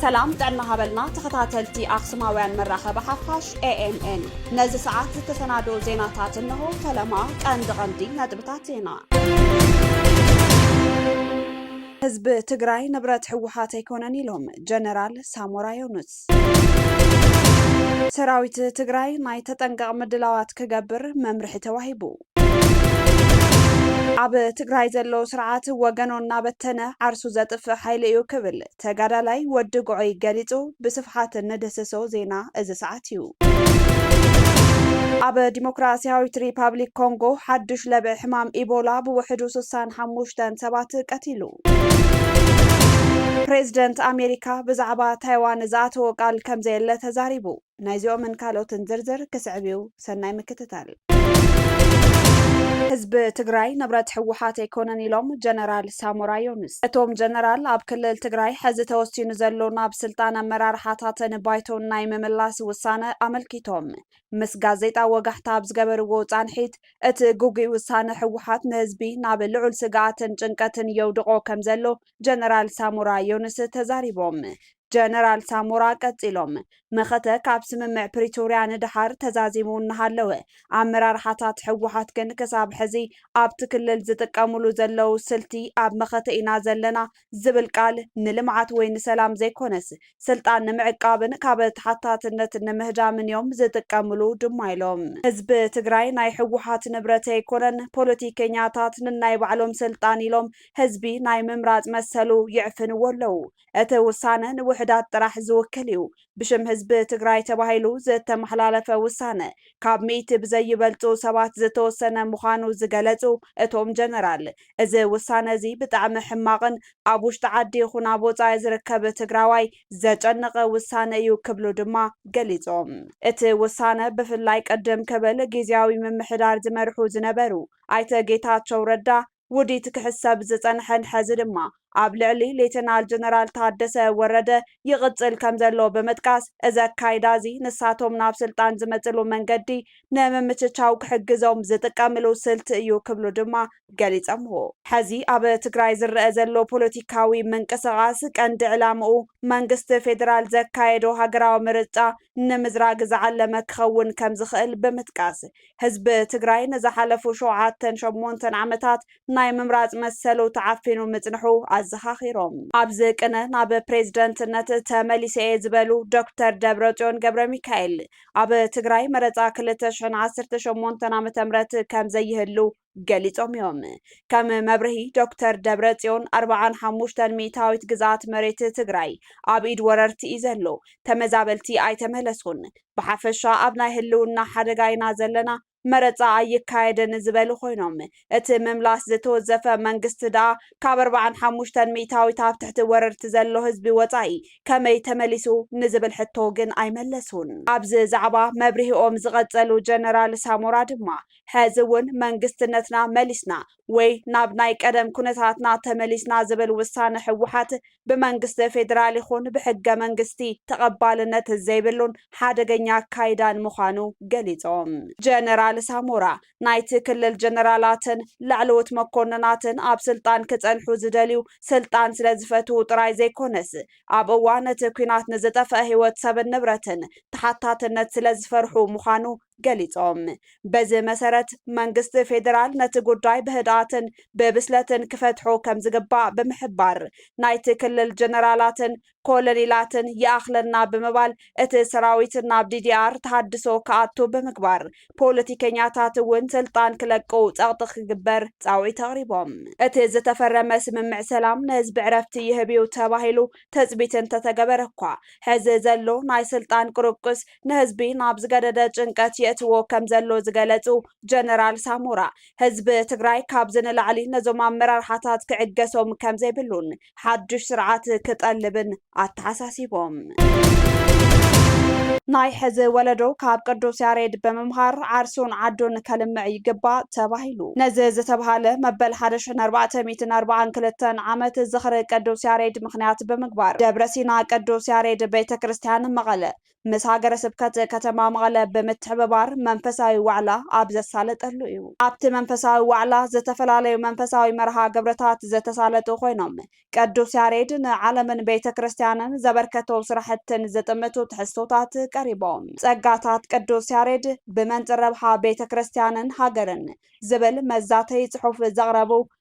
ሰላም ጥዕና ሃበልና ተኸታተልቲ ኣክሱማውያን መራኸቢ ሓፋሽ ኤኤምኤን ነዚ ሰዓት ዝተሰናደው ዜናታት እንሆ። ፈለማ ቀንዲ ቀንዲ ነጥብታት ዜና ህዝቢ ትግራይ ንብረት ህወሓት ኣይኮነን ኢሎም ጀነራል ሳሞራ ዮኑስ። ሰራዊት ትግራይ ናይ ተጠንቀቕ ምድላዋት ክገብር መምርሒ ተዋሂቡ። ኣብ ትግራይ ዘሎ ስርዓት ወገኖ እናበተነ ዓርሱ ዘጥፍእ ሓይሊ እዩ ክብል ተጋዳላይ ወዲ ጉዖይ ገሊፁ ብስፍሓት እንድህስሶ ዜና እዚ ሰዓት እዩ። ኣብ ዲሞክራሲያዊት ሪፓብሊክ ኮንጎ ሓዱሽ ለብዒ ሕማም ኢቦላ ብውሕዱ ስሳን ሓሙሽተን ሰባት ቀቲሉ። ፕሬዝደንት ኣሜሪካ ብዛዕባ ታይዋን ዝኣተዎ ቃል ከምዘየለ ተዛሪቡ። ናይዚኦምን ካልኦትን ዝርዝር ክስዕብ እዩ፣ ሰናይ ምክትታል። ህዝቢ ትግራይ ንብረት ህወሓት ኣይኮነን ኢሎም ጀነራል ሳሞራ ዮኑስ። እቶም ጀነራል ኣብ ክልል ትግራይ ሕዚ ተወሲኑ ዘሎ ናብ ስልጣን ኣመራርሓታትን ባይቶን ናይ ምምላስ ውሳነ ኣመልኪቶም ምስ ጋዜጣ ወጋሕታ ኣብ ዝገበርዎ ፃንሒት እቲ ግጉይ ውሳነ ህወሓት ንህዝቢ ናብ ልዑል ስግኣትን ጭንቀትን የውድቖ ከምዘሎ ጀነራል ሳሞራ ዮኑስ ተዛሪቦም። ጀነራል ሳሞራ ቀፂሎም መኸተ ካብ ስምምዕ ፕሪቶርያ ንደሓር ተዛዚሙ እናሃለወ ኣመራርሓታት ህወሓት ግን ክሳብ ሕዚ ኣብቲ ክልል ዝጥቀምሉ ዘለዉ ስልቲ ኣብ መኸተ ኢና ዘለና ዝብል ቃል ንልምዓት ወይ ንሰላም ዘይኮነስ ስልጣን ንምዕቃብን ካብ ተሓታትነት ንምህዳምን እዮም ዝጥቀምሉ ድማ ኢሎም። ህዝቢ ትግራይ ናይ ህወሓት ንብረት ኣይኮነን፣ ፖለቲከኛታት ንናይ ባዕሎም ስልጣን ኢሎም ህዝቢ ናይ ምምራፅ መሰሉ ይዕፍንዎ ኣለው፣ እቲ ውሳነ ንውሑዳት ጥራሕ ዝውክል እዩ፣ ብሽም ህዝቢ ትግራይ ተባሂሉ ዝተመሓላለፈ ውሳነ ካብ ሚእቲ ብዘይበልፁ ሰባት ዝተወሰነ ምዃኑ ዝገለፁ እቶም ጀነራል፣ እዚ ውሳነ እዚ ብጣዕሚ ሕማቕን ኣብ ውሽጢ ዓዲ ይኹን ኣብ ወፃኢ ዝርከብ ትግራዋይ ዘጨነቐ ውሳነ እዩ ክብሉ ድማ ገሊፆም። እቲ ውሳነ ብፍላይ ቅድም ክብል ጊዚያዊ ምምሕዳር ዝመርሑ ዝነበሩ ኣይተ ጌታቸው ረዳ፣ ውዲት ክሕሰብ ዝጸንሐን ሐዚ ድማ ኣብ ልዕሊ ሌተናል ጀነራል ታደሰ ወረደ ይቕጽል ከምዘሎ ብምጥቃስ፣ እዚ ኣካይዳ እዚ ንሳቶም ናብ ስልጣን ዝመጽሉ መንገዲ ንምምችቻው ክሕግዞም ዝጥቀምሉ ስልቲ እዩ ክብሉ ድማ ገሊጸምዎ። ሐዚ ኣብ ትግራይ ዝረኣ ዘሎ ፖለቲካዊ ምንቅስቓስ ቀንዲ ዕላምኡ መንግስቲ ፌደራል ዘካየዶ ሃገራዊ ምርጫ ንምዝራግ ዝዓለመ ክኸውን ከምዝኽእል ብምጥቃስ፣ ህዝቢ ትግራይ ንዝሓለፉ ሸውዓተን ሸሞንተን ዓመታት ናይ ምምራፅ መሰሉ ተዓፊኑ ምፅንሑ ኣዘኻኺሮም። ኣብዚ ቅነ ናብ ፕሬዝደንትነት ተመሊሰ እየ ዝበሉ ዶክተር ደብረፅዮን ገብረሚካኤል፣ ኣብ ትግራይ መረፃ ክልተ ሽሕን ዓሰርተ ሸሞንተን ዓመተ ምህረት ከምዘይህሉ ገሊፆም እዮም። ከም መብርሂ ዶክተር ደብረፅዮን ኣርብዓን ሓሙሽተን ሚእታዊት ግዝኣት መሬት ትግራይ ኣብ ኢድ ወረርቲ እዩ ዘሎ፣ ተመዛበልቲ ኣይተመለሱን፣ ብሓፈሻ ኣብ ናይ ህልውና ሓደጋ ኢና ዘለና፣ መረፃ ኣይካየድን ዝበሉ ኮይኖም እቲ ምምላስ ዝተወዘፈ መንግስቲ ድኣ ካብ ኣርብዓን ሓሙሽተን ሚእታዊት ኣብ ትሕቲ ወረርቲ ዘሎ ህዝቢ ወፃኢ ከመይ ተመሊሱ ንዝብል ሕቶ ግን ኣይመለሱን። ኣብዚ ዛዕባ መብርሂኦም ዝቐፀሉ ጀነራል ሳሞራ ድማ ሐዚ ውን መንግስትነትና መሊስና ወይ ናብ ናይ ቀደም ኩነታትና ተመሊስና ዝብል ውሳነ ህወሓት ብመንግስቲ ፌዴራል ይኹን ብሕገ መንግስቲ ተቐባልነት ዘይብሉን ሓደገኛ ኣካይዳን ምዃኑ ገሊፆም። ጀነራል ሳሞራ ናይቲ ክልል ጀነራላትን ላዕለዎት መኮንናትን ኣብ ስልጣን ክፀንሑ ዝደልዩ ስልጣን ስለዝፈትዉ ጥራይ ዘይኮነስ ኣብ እዋን እቲ ኲናት ንዝጠፈኣ ህይወት ሰብን ንብረትን ተሓታትነት ስለዝፈርሑ ምዃኑ ገሊፆም። በዚ መሰረት መንግስቲ ፌዴራል ነቲ ጉዳይ ብህድኣትን ብብስለትን ክፈትሖ ከምዝግባእ ብምሕባር፣ ናይቲ ክልል ጀነራላትን ኮለኔላትን ይኣኽለና ብምባል እቲ ሰራዊት ናብ ዲዲኣር ተሃድሶ ክኣቱ ብምግባር ፖለቲከኛታት እውን ስልጣን ክለቁ ፀቕጢ ክግበር ፃውዒት ኣቕሪቦም። እቲ ዝተፈረመ ስምምዕ ሰላም ንህዝቢ ዕረፍቲ ይህብ እዩ ተባሂሉ ትፅቢት እንተተገበረ እኳ ሕዚ ዘሎ ናይ ስልጣን ቁርቁስ ንህዝቢ ናብ ዝገደደ ጭንቀት የእትዎ ከምዘሎ ዝገለፁ ጀነራል ሳሞራ፣ ህዝቢ ትግራይ ካብዚ ንላዕሊ ነዞም ኣመራርሓታት ክዕገሶም ከምዘይብሉን ሓዱሽ ስርዓት ክጠልብን ኣተሓሳሲቦም። ናይ ሕዚ ወለዶ ካብ ቅዱስ ያሬድ ብምምሃር ዓርሱን ዓዱን ከልምዕ ይግባእ ተባሂሉ። ነዚ ዝተብሃለ መበል ሓደ ሽሕን ኣርባዕተ ሚእትን ኣርብዓን ክልተን ዓመት ዝኽሪ ቅዱስ ያሬድ ምኽንያት ብምግባር ደብረ ሲና ቅዱስ ያሬድ ቤተ ክርስቲያን መቐለ ምስ ሃገረ ስብከት ከተማ መቐለ ብምትሕብባር መንፈሳዊ ዋዕላ ኣብ ዘሳለጠሉ እዩ። ኣብቲ መንፈሳዊ ዋዕላ ዝተፈላለዩ መንፈሳዊ መርሃ ግብርታት ዝተሳለጡ ኮይኖም ቅዱስ ያሬድ ንዓለምን ቤተ ክርስቲያንን ዘበርከቶ ስራሕትን ዝጥምቱ ትሕዝቶታት ቀሪቦም። ጸጋታት ቅዱስ ያሬድ ብመንጽር ረብሓ ቤተ ክርስቲያንን ሃገርን ዝብል መዛተዪ ጽሑፍ ዘቕረቡ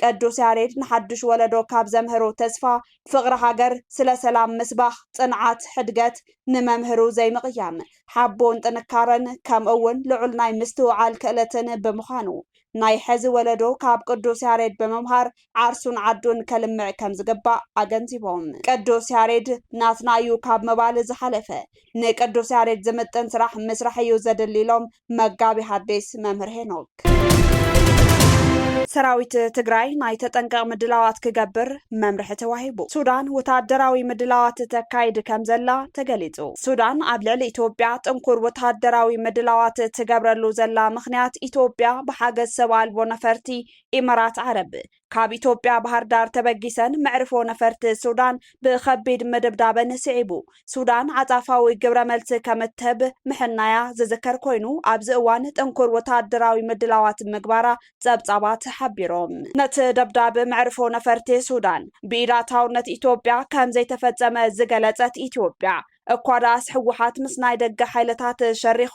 ቅዱስ ያሬድ ንሓዱሽ ወለዶ ካብ ዘምህሩ ተስፋ፣ ፍቕሪ ሃገር፣ ስለ ሰላም ምስባኽ፣ ጽንዓት፣ ሕድገት፣ ንመምህሩ ዘይምቕያም፣ ሓቦን ጥንካረን፣ ከምኡ'ውን ልዑል ናይ ምስትውዓል ክእለትን ብምዃኑ፣ ናይ ሕዚ ወለዶ ካብ ቅዱስ ያሬድ ብምምሃር ዓርሱን ዓዱን ከልምዕ ከም ዝግባእ ኣገንዚቦም። ቅዱስ ያሬድ ናትና እዩ ካብ ምባል ዝሓለፈ፣ ንቅዱስ ያሬድ ዝምጥን ስራሕ ምስራሕ እዩ ዘድሊ ኢሎም መጋቤ ሐዲስ መምህር ሄኖክ። ሰራዊት ትግራይ ናይ ተጠንቀቕ ምድላዋት ክገብር መምርሒ ተዋሂቡ። ሱዳን ወተሃደራዊ ምድላዋት ተካይድ ከም ዘላ ተገሊጹ። ሱዳን ኣብ ልዕሊ ኢትዮጵያ ጥንኩር ወተሃደራዊ ምድላዋት ትገብረሉ ዘላ ምኽንያት ኢትዮጵያ ብሓገዝ ሰብ ኣልቦ ነፈርቲ ኢመራት ዓረብ ካብ ኢትዮጵያ ባህርዳር ተበጊሰን መዕርፎ ነፈርቲ ሱዳን ብኸቢድ ምድብዳበን ስዒቡ ሱዳን ዓጻፋዊ ግብረ መልሲ ከም እትህብ ምሕናያ ዝዝከር ኮይኑ ኣብዚ እዋን ጥንኩር ወተሃደራዊ ምድላዋት ምግባራ ጸብጻባት ሓቢሮም። ነቲ ደብዳብ መዕርፎ ነፈርቲ ሱዳን ብኢድ ኣታውነት ኢትዮጵያ ከም ዘይተፈጸመ ዝገለጸት ኢትዮጵያ እኳ ደኣስ ህወሓት ምስ ናይ ደገ ሓይልታት ሸሪኹ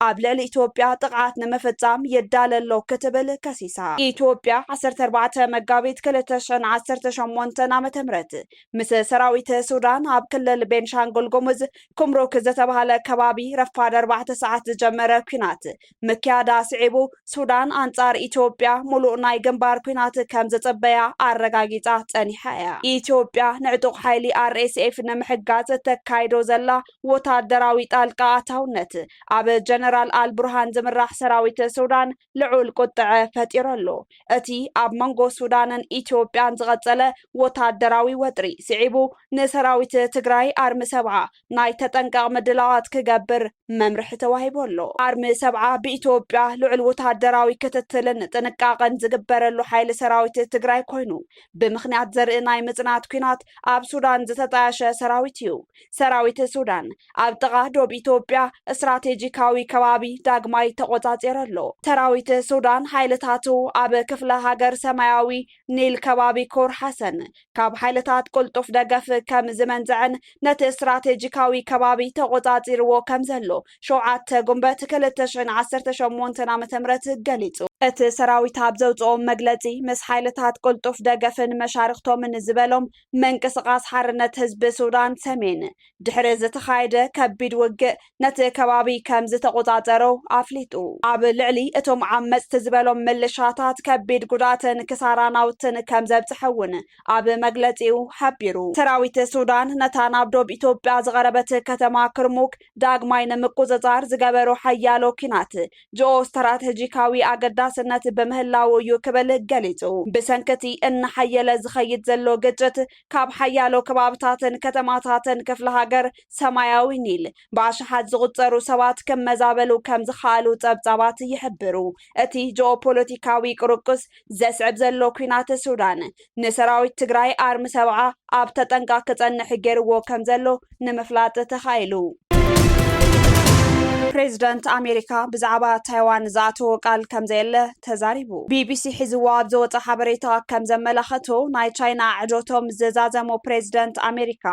ኣብ ልዕሊ ኢትዮጵያ ጥቕዓት ንምፍፃም ይዳለ ኣሎ ክትብል ከሲሳ። ኢትዮጵያ ዓሰርተ ኣርባዕተ መጋቢት ክልተ ሽሕን ዓሰርተ ሸሞንተን ዓመተ ምህረት ምስ ሰራዊት ሱዳን ኣብ ክልል ቤንሻንጉል ጉሙዝ ኩምሩክ ዝተባህለ ከባቢ ረፋድ ኣርባዕተ ሰዓት ዝጀመረ ኲናት ምክያዳ ስዒቡ ሱዳን ኣንጻር ኢትዮጵያ ሙሉእ ናይ ግንባር ኩናት ከም ዘጸበያ ኣረጋጊጻ ጸኒሓ እያ። ኢትዮጵያ ንዕጡቕ ሓይሊ RSF ንምሕጋዝ እተካይዶ ዘላ ወታደራዊ ጣልቃ ኣታውነት ኣብ ጀነራል ኣልቡርሃን ዝምራሕ ሰራዊት ሱዳን ልዑል ቁጥዐ ፈጢሩ ኣሎ። እቲ ኣብ መንጎ ሱዳንን ኢትዮጵያን ዝቐጸለ ወታደራዊ ወጥሪ ስዒቡ ንሰራዊት ትግራይ ኣርሚ ሰብዓ ናይ ተጠንቀቕ ምድላዋት ክገብር መምርሒ ተዋሂቡ ኣሎ። ኣርሚ ሰብዓ ብኢትዮጵያ ልዑል ወተሃደራዊ ክትትልን ጥንቃቐን ዝግበረሉ ሓይሊ ሰራዊት ትግራይ ኮይኑ፣ ብምኽንያት ዘርኢ ናይ ምጽናት ኲናት ኣብ ሱዳን ዝተጣየሸ ሰራዊት እዩ። ሰራዊት ሱዳን ኣብ ጥቓ ዶብ ኢትዮጵያ ስትራቴጂካዊ ከባቢ ዳግማይ ተቖጻጺሩ ኣሎ። ሰራዊት ሱዳን ሓይልታቱ ኣብ ክፍለ ሃገር ሰማያዊ ኒል ከባቢ ኮር ሓሰን ካብ ሓይልታት ቅልጡፍ ደገፍ ከም ዝመንዘዐን ነቲ ስትራቴጂካዊ ከባቢ ተቖጻጺርዎ ከም ዘሎ ሸውዓተ ጉንበት ክልተ ሽሕን ዓሰርተ ሸሞንተን ዓመተ ምህረት ገሊጹ። እቲ ሰራዊት ኣብ ዘውጽኦ መግለጺ፣ ምስ ሓይልታት ቅልጡፍ ደገፍን መሻርኽቶምን ዝበሎም፣ ምንቅስቓስ ሓርነት ህዝቢ ሱዳን ሰሜን፣ ድሕሪ ዝተኻየደ ከቢድ ውግእ ነቲ ከባቢ ከምዝተቖጻጸሮ ኣፍሊጡ። ኣብ ልዕሊ እቶም ዓመጽቲ ዝበሎም ምልሻታት ከቢድ ጉድኣትን ክሳራ ናውትን ከምዘብጽሐ'ውን ኣብ መግለጺኡ ሓቢሩ። ሰራዊት ሱዳን ነታ ናብ ዶብ ኢትዮጵያ ዝቐረበት ከተማ ክርሙክ ዳግማይ ንምቁጽጻር ዝገበሮ ሓያሎ ኲናት ጂኦስትራተጂካዊ ኣገዳስነት ብምህላዉ እዩ ክብል ገሊጹ። ብሰንኪ'ቲ እናሓየለ ዝኸይድ ዘሎ ግጭት፣ ካብ ሓያሎ ከባብታትን ከተማታትን ክፍለ ሃገር ሰማያዊ ኒል ብኣሽሓት ዝቑጸሩ ሰባት ክመዛበሉ ከም ዝኸኣሉ ጸብጻባት ይሕብሩ። እቲ ጂኦፖለቲካዊ ቅርቁስ ዘስዕብ ዘሎ ኲናት ሱዳን ንሰራዊት ትግራይ ኣርሚ ሰብዓ ኣብ ተጠንቃ ክጸንሕ ገይርዎ ከም ዘሎ ንምፍላጥ ተኻኢሉ። ፕሬዚደንት ኣሜሪካ ብዛዕባ ታይዋን ዝኣተዎ ቃል ከምዘየለ ተዛሪቡ። ቢቢሲ ሒዝዎ ኣብ ዘወፀ ሓበሬታ ከም ዘመላኸቶ ናይ ቻይና ኣዕዶቶም ዘዛዘሙ ፕሬዚደንት ኣሜሪካ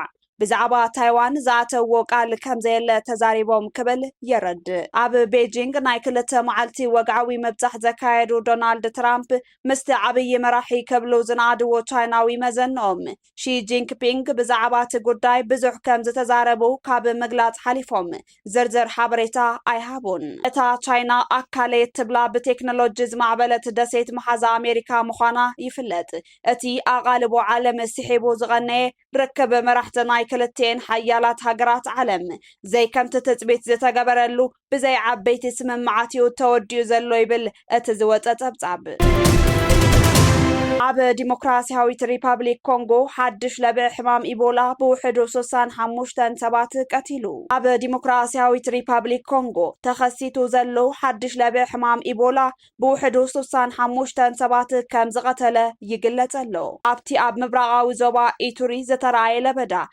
ብዛዕባ ታይዋን ዝኣተዎ ቃል ከምዘየለ ተዛሪቦም ክብል የረድእ። ኣብ ቤጂንግ ናይ ክልተ መዓልቲ ወግዓዊ ምብፃሕ ዘካየዱ ዶናልድ ትራምፕ ምስቲ ዓብዪ መራሒ ክብሉ ዝነኣድዎ ቻይናዊ መዘንኦም ሺ ጂንክፒንግ ብዛዕባ እቲ ጉዳይ ብዙሕ ከም ዝተዛረቡ ካብ ምግላጽ ሓሊፎም ዝርዝር ሓበሬታ ኣይሃቡን። እታ ቻይና ኣካለይ እትብላ ብቴክኖሎጂ ዝማዕበለት ደሴት መሓዛ ኣሜሪካ ምዃና ይፍለጥ። እቲ ኣቓልቦ ዓለም ስሒቡ ዝቐነየ ርክብ መራሕቲ ናይ ክልቲኤን ሓያላት ሃገራት ዓለም፣ ዘይከምቲ ትጽቢት ዝተገበረሉ ብዘይ ዓበይቲ ስምምዓት'ዩ ተወዲኡ ዘሎ ይብል እቲ ዝወጸ ጸብጻብ። ኣብ ዲሞክራስያዊት ሪፓብሊክ ኮንጎ ሓድሽ ለብዒ ሕማም ኢቦላ ብውሕዱ ስሳን ሓሙሽተን ሰባት ቀቲሉ። ኣብ ዲሞክራስያዊት ሪፓብሊክ ኮንጎ ተኸሲቱ ዘሎ ሓድሽ ለብዒ ሕማም ኢቦላ ብውሕዱ ስሳን ሓሙሽተን ሰባት ከም ዝቐተለ ይግለጽ ኣሎ። ኣብቲ ኣብ ምብራቓዊ ዞባ ኢቱሪ ዝተራእየ ለበዳ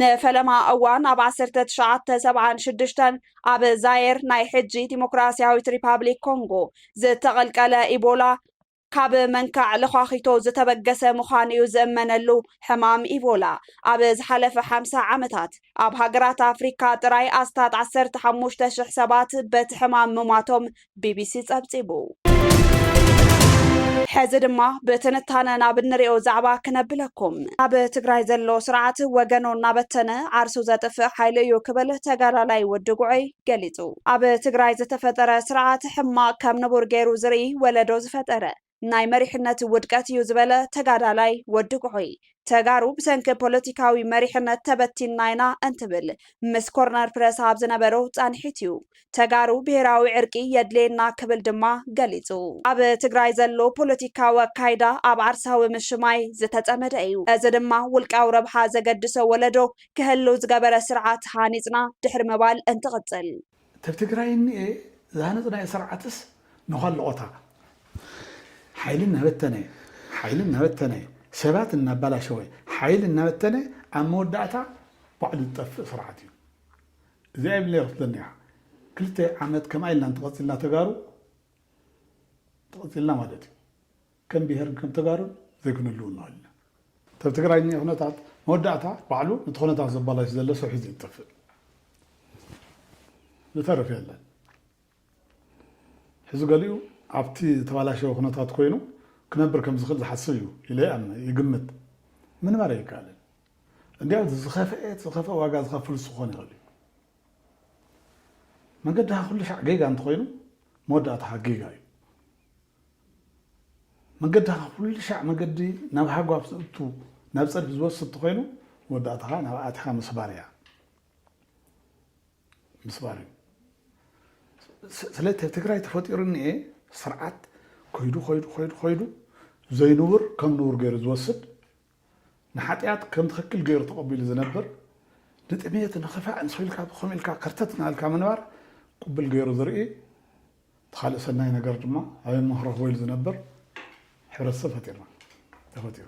ንፈለማ እዋን ኣብ ዓሰርተ ትሽዓተ ሰብዓን ሽዱሽተን ኣብ ዛየር ናይ ሕጂ ዲሞክራስያዊት ሪፓብሊክ ኮንጎ ዝተቐልቀለ ኢቦላ ካብ መንካዕ ለዃኺቶ ዝተበገሰ ምዃኑ እዩ ዝእመነሉ። ሕማም ኢቦላ ኣብ ዝሓለፈ ሓምሳ ዓመታት ኣብ ሃገራት ኣፍሪካ ጥራይ ኣስታት ዓሰርተ ሓሙሽተ ሽሕ ሰባት በቲ ሕማም ምሟቶም ቢቢሲ ጸብጺቡ። ሕዚ ድማ ብትንታነ ናብ እንሪኦ ዛዕባ ክነብለኩም። ኣብ ትግራይ ዘሎ ስርዓት ወገኖ እናበተነ ዓርሱ ዘጥፍእ ሓይሊ እዩ ክብል ተጋዳላይ ወዲ ጉዐይ ገሊፁ። ኣብ ትግራይ ዝተፈጠረ ስርዓት ሕማቅ ከም ንቡር ገይሩ ዝርኢ ወለዶ ዝፈጠረ ናይ መሪሕነት ውድቀት እዩ ዝበለ ተጋዳላይ ወዲ ኩሑይ፣ ተጋሩ ብሰንኪ ፖለቲካዊ መሪሕነት ተበቲንና ኢና እንትብል ምስ ኮርነር ፕረስ ኣብ ዝነበሮ ፃንሒት እዩ። ተጋሩ ብሄራዊ ዕርቂ የድልየና ክብል ድማ ገሊፁ። ኣብ ትግራይ ዘሎ ፖለቲካዊ ኣካይዳ ኣብ ዓርሳዊ ምሽማይ ዝተፀመደ እዩ። እዚ ድማ ውልቃዊ ረብሓ ዘገድሶ ወለዶ ክህሉ ዝገበረ ስርዓት ሃኒፅና ድሕሪ ምባል እንትቕፅል፣ እተብ ትግራይ እኒኤ ዝሃነፅናዮ ስርዓትስ ንኸልኦታ ሓይሊ እናበተነ ሓይሊ እናበተነ ሰባት እናባላሸወ ሓይሊ እናበተነ ኣብ መወዳእታ ባዕሉ ዝጠፍእ ስርዓት እዩ እዚኣ ይብለይ ክትብለኒ እያ ክልተ ዓመት ከምኣ ኢልና እንተቐፂልና ተጋሩ ተቐፂልና ማለት እዩ ከም ብሄርን ከም ተጋሩን ዘይክንልው ንክእል ኢና እብ ትግራይ ዝኒሀ ኩነታት መወዳእታ ባዕሉ ንቲ ኩነታት ዘባላሽ ዘሎ ሰብ ሒዙ እዩ ዝጠፍእ ዝተርፍ የለን ሕዚ ገሊኡ ኣብቲ ዝተባላሸወ ኩነታት ኮይኑ ክነብር ከም ዝክእል ዝሓስብ እዩ ኢለ ይኣምን ይግምት ምንባር ኣይከኣልን እንዲያው ዝኸፍአ ዝኸፍአ ዋጋ ዝኸፍል ዝኮን ይክእል እዩ መንገድኻ ኩሉ ሻዕ ጌጋ እንተኮይኑ መወዳእታኻ ጌጋ እዩ መገድኻ ካብ ኩሉ ሻዕ መገዲ ናብ ሃጓፍ ዝእቱ ናብ ጸድፊ ዝወስድ እንተኾይኑ መወዳእታ ከኣ ናብኣ ኣቲኻ ምስባር እያ ምስባር እዩ ስለ ትግራይ ተፈጢሩ እኒኤ ስርዓት ኮይዱ ኮይዱ ኮይዱ ኮይዱ ዘይንቡር ከም ንቡር ገይሩ ዝወስድ ንሓጥያት ከም ትኽክል ገይሩ ተቐቢሉ ዝነብር፣ ንጥሜት፣ ንኽፋእ፣ ንሰው ኢልካ ብኸም ኢልካ ከርተት እናበልካ ምንባር ቅቡል ገይሩ ዝርኢ፣ እቲ ኻልእ ሰናይ ነገር ድማ ኣበይ እሞ ክረኽቦ ኢሉ ዝነብር ሕብረተሰብ ፈጢርና፣ ተፈጢሩ።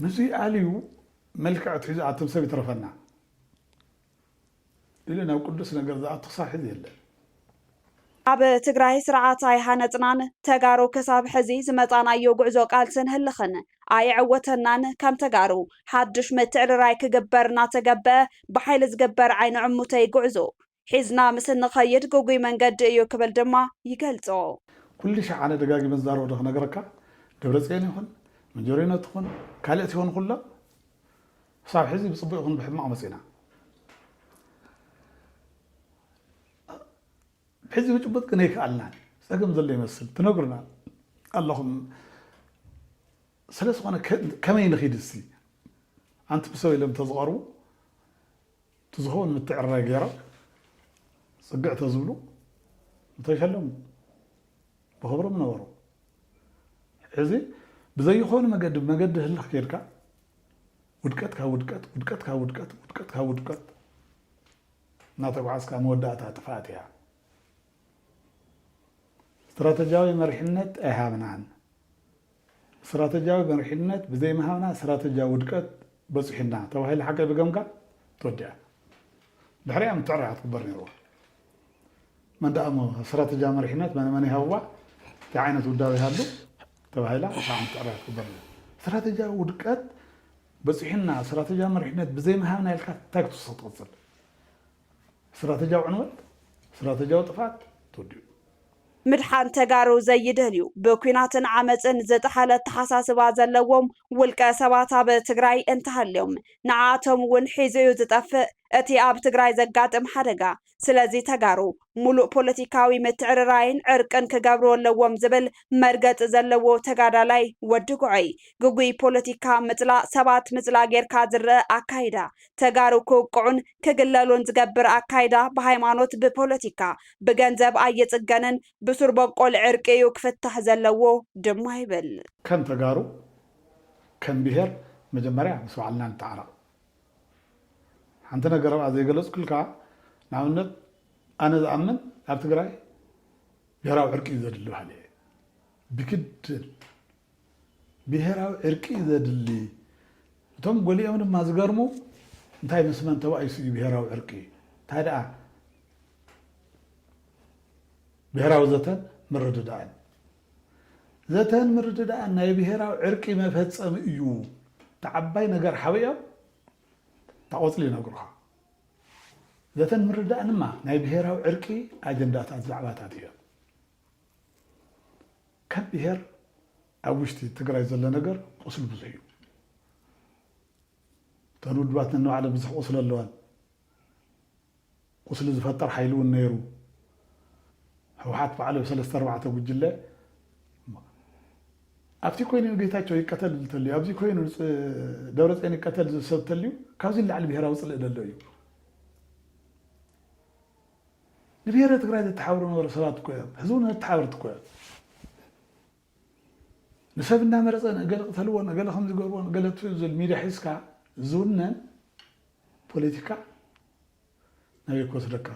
ምስዚ ኣልዩ መልክዕ ኣትሒዙ ኣትም ሰብ ይትረፈና። ኢሉ ናብ ቅዱስ ነገር ዝኣቱ ክሳብ ሕዚ የለን። ኣብ ትግራይ ስርዓት ኣይሃነፅናን፣ ተጋሩ ክሳብ ሕዚ ዝመፃእናዮ ጉዕዞ ቃልስን ህልኽን ኣየዐወተናን፣ ከም ተጋሩ ሓዱሽ ምትዕርራይ ክግበር እናተገበኣ ብሓይሊ ዝግበር ዓይኒ ዕሙተይ ጉዕዞ ሒዝና ምስ እንኸይድ ግጉይ መንገዲ እዩ ክብል ድማ ይገልፆ። ኩልሻዕ ኣነ ደጋጊመ ዝዛረቦ ዶ ክነግረካ ደብረፅዮን ይኹን መጀሪኖ ትኹን ካልእ ትኹን ኩሎም ክሳብ ሕዚ ብፅቡቅ ይኹን ብሕማቅ መፂእና ሕዚ ብጭቡጥ ግን ኣይክኣልናን ፀገም ዘሎ ይመስል ትነግሩና ኣለኹም ስለዝኾነ ከመይ ንኺድ እስቲ ኣንቲ ብሰብ ኢሎም ተዝቐርቡ እቲ ዝኸውን ምትዕርራይ ገይሮም ፅግዕ ተዝብሉ ምተሸለሙ። ብኽብሪ ምነበሩ። ሕዚ ብዘይኾነ መገዲ ብመገዲ ህልኽ ከይድካ ውድቀት ካብ ውድቀት፣ ውድቀት ካብ ውድቀት፣ ውድቀት ካብ ውድቀት እናተጓዓዝካ መወዳእታ ጥፍኣት እያ። ስትራተጂያዊ መሪሕነት ኣይሃብናን። ስትራተጂያዊ መሪሕነት ብዘይምሃብና ስትራተጂያዊ ውድቀት በጺሑና ተባሂሉ ሓቀይ ብገምጋም ተወዲኣ። ድሕሪኣ ምትዕራቕ ክግበር ነይርዋ። መን ደኣ እሞ ስትራተጂያዊ መሪሕነት መን መን ይሃብዋ እንታይ ዓይነት ውዳበ ይሃሉ ተባሂላ ክሳዕ ምትዕራቕ ክግበር ነይሩ። ስትራተጂያዊ ውድቀት በጺሑና ስትራተጂያዊ መሪሕነት ብዘይምሃብና ኢልካ እንታይ ክትውስኽ ትቕጽል? ስትራተጂያዊ ዕንወት ስትራተጂያዊ ጥፍኣት ተወዲኡ። ምድሓን ተጋሩ ዘይደልዩ ብኲናትን ዓመፅን ዝጠሓለ ኣተሓሳስባ ዘለዎም ውልቀ ሰባት ኣብ ትግራይ እንተሃልዮም ንዓኣቶም እውን ሒዙ እዩ ዝጠፍእ እቲ ኣብ ትግራይ ዘጋጥም ሓደጋ። ስለዚ ተጋሩ ሙሉእ ፖለቲካዊ ምትዕርራይን ዕርቅን ክገብሩ ኣለዎም ዝብል መርገፂ ዘለዎ ተጋዳላይ ወዲ ጉዐይ ግጉይ ፖለቲካ ምፅላእ ሰባት ምፅላእ ጌርካ ዝረኣ ኣካይዳ ተጋሩ ክውቅዑን ክግለሉን ዝገብር ኣካይዳ ብሃይማኖት ብፖለቲካ ብገንዘብ ኣይፅገንን ብሱር ቦቆል ዕርቂ እዩ ክፍታሕ ዘለዎ ድማ ይብል። ከም ተጋሩ ከም ብሄር መጀመርያ ምስ ባዕልና ንተዓረቕ። ሓንቲ ነገር ኣብኣ ዘይገለፅኩልካ ንኣብነት ኣነ ዝኣምን ኣብ ትግራይ ብሄራዊ ዕርቂ እዩ ዘድሊ በሃሊ እየ ብግድን። ብሄራዊ ዕርቂ እዩ ዘድሊ እቶም ጎሊኦም ድማ ዝገርሙ እንታይ ምስ መን ተባኢሱ እዩ ብሄራዊ ዕርቂ እንታይ ደኣ ብሄራዊ ዘተን ምርድዳእን ዘተን ምርድዳእን ናይ ብሄራዊ ዕርቂ መፈፀሚ እዩ ተዓባይ ነገር ሓቢኦም ታቆፅሊ ይነግሩኻ ዘተን ምርዳእን ድማ ናይ ብሄራዊ ዕርቂ ኣጀንዳታት ዛዕባታት እዮም ካብ ብሄር ኣብ ውሽጢ ትግራይ ዘሎ ነገር ቁስሊ ብዙሕ እዩ። እተን ውድባት ነንባዕለን ብዙሕ ቁስሊ ኣለዋን። ቁስሊ ዝፈጥር ሓይሊ እውን ነይሩ። ህወሓት ባዕሉ ብ ሰለስተ ኣርባዕተ ጉጅለ ኣብቲ ኮይኑ ጌታቸው ይቀተል እንተልዩ ኣብዚ ኮይኑ ደብረፅዮን ይቀተል ዝሰብ እንተልዩ ካብዚ ንላዕሊ ብሄራዊ ፅልኢ ደሎ እዩ ንብሄረ ትግራይ ዘተሓብሩ ዝነበሩ ሰባት እኮ እዮም። ሕዚ እውን እነቲ ተሓበርቲ እኮ እዮም። ንሰብ እናመረፀ ንእገለ ቅተልዎ ንእገለ ከምዚ ገርዎ ንእገለ ኣጥፍኡ ዝብል ሚድያ ሒዝካ ዝውነን ፖለቲካ ናበይ ክወስደካ?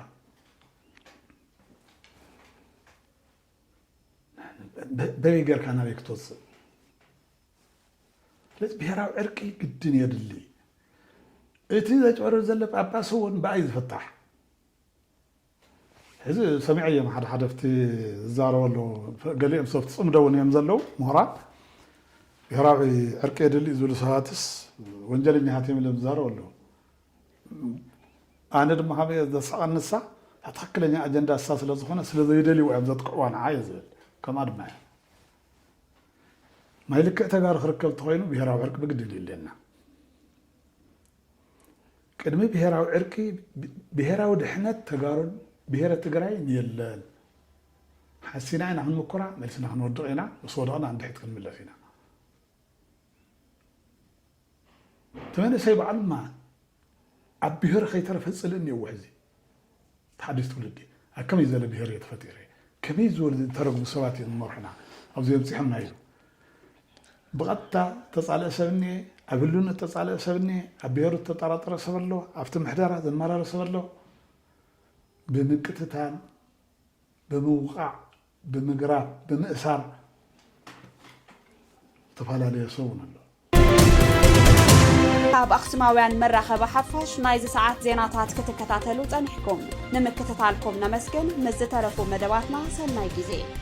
በበይ ጌርካ ናበይ ክትወፅእ? ስለዚ ብሄራዊ ዕርቂ ግድን የድሊ። እቲ ዘጭበርብር ዘሎ ጳጳስ እውን ብኣይ ዝፍታሕ። ሕዚ ሰሚዐዮም ሓደ ሓደ ኣብቲ ዝዛረቡ ኣለዉ ገሊኦም ሰብቲ ፅምዶ እውን እዮም ዘለዉ ምሁራት ብሄራዊ ዕርቂ የድሊ ዝብሉ ሰባትስ ወንጀለኛታት እዮም ኢሎም ዝዛረቡ ኣለዉ ኣነ ድማ ከመይ ዘስቀን ንሳ ትክክለኛ ኣጀንዳ እሳ ስለዝኾነ ስለዘይደልይዎ እዮም ዘጥቅዕዋ ንዓ እየ ዝብል ከምኣ ድማ እየ ማይ ልክዕ ተጋሩ ክርከብ ተኾይኑ ብሄራዊ ዕርቂ ብግድን እዩ ኣለና። ቅድሚ ብሄራዊ ዕርቂ ብሄራዊ ድሕነት ተጋሩን ብሄረ ትግራይን የለን። ሓሲና ኢና ክንምኩራ መልስና ክንወድቕ ኢና ምስ ወደቕና ንድሕት ክንምለስ ኢና። እቲ መንእሰይ ባዕሉ ድማ ኣብ ብሄሩ ከይተረፈ ፅልኢ እኒኦዎ ሕዚ እቲ ሓዱሽ ትውልዲ ኣብ ከመይ ዝበለ ብሄር እየ ተፈጢረ ከመይ ዝበሉ ዝተረግሙ ሰባት እዮም ዝመርሑና ኣብዚ ኣብፂሖምና ኢሉ ብቐጥታ ተፃልኢ ሰብ እኒኤ ኣብ ህልውነት ተፃልኢ ሰብ እኒኤ ኣብ ብሄሩ ዝተጠራጠረ ሰብ ኣሎ ኣብቲ ምሕደራ ዘመራረ ሰብ ኣሎ ብምቅትታል ብምውቃዕ ብምግራብ ብምእሳር ዝተፋላለየ ሰው ውን ኣሎ። ካብ ኣኽሱማውያን መራኸቢ ሓፋሽ ናይዚ ሰዓት ዜናታት ክትከታተሉ ጸኒሕኩም። ንምክትታልኩም ነመስግን። ምስ ዝተረፉ መደባትና ሰናይ ጊዜ።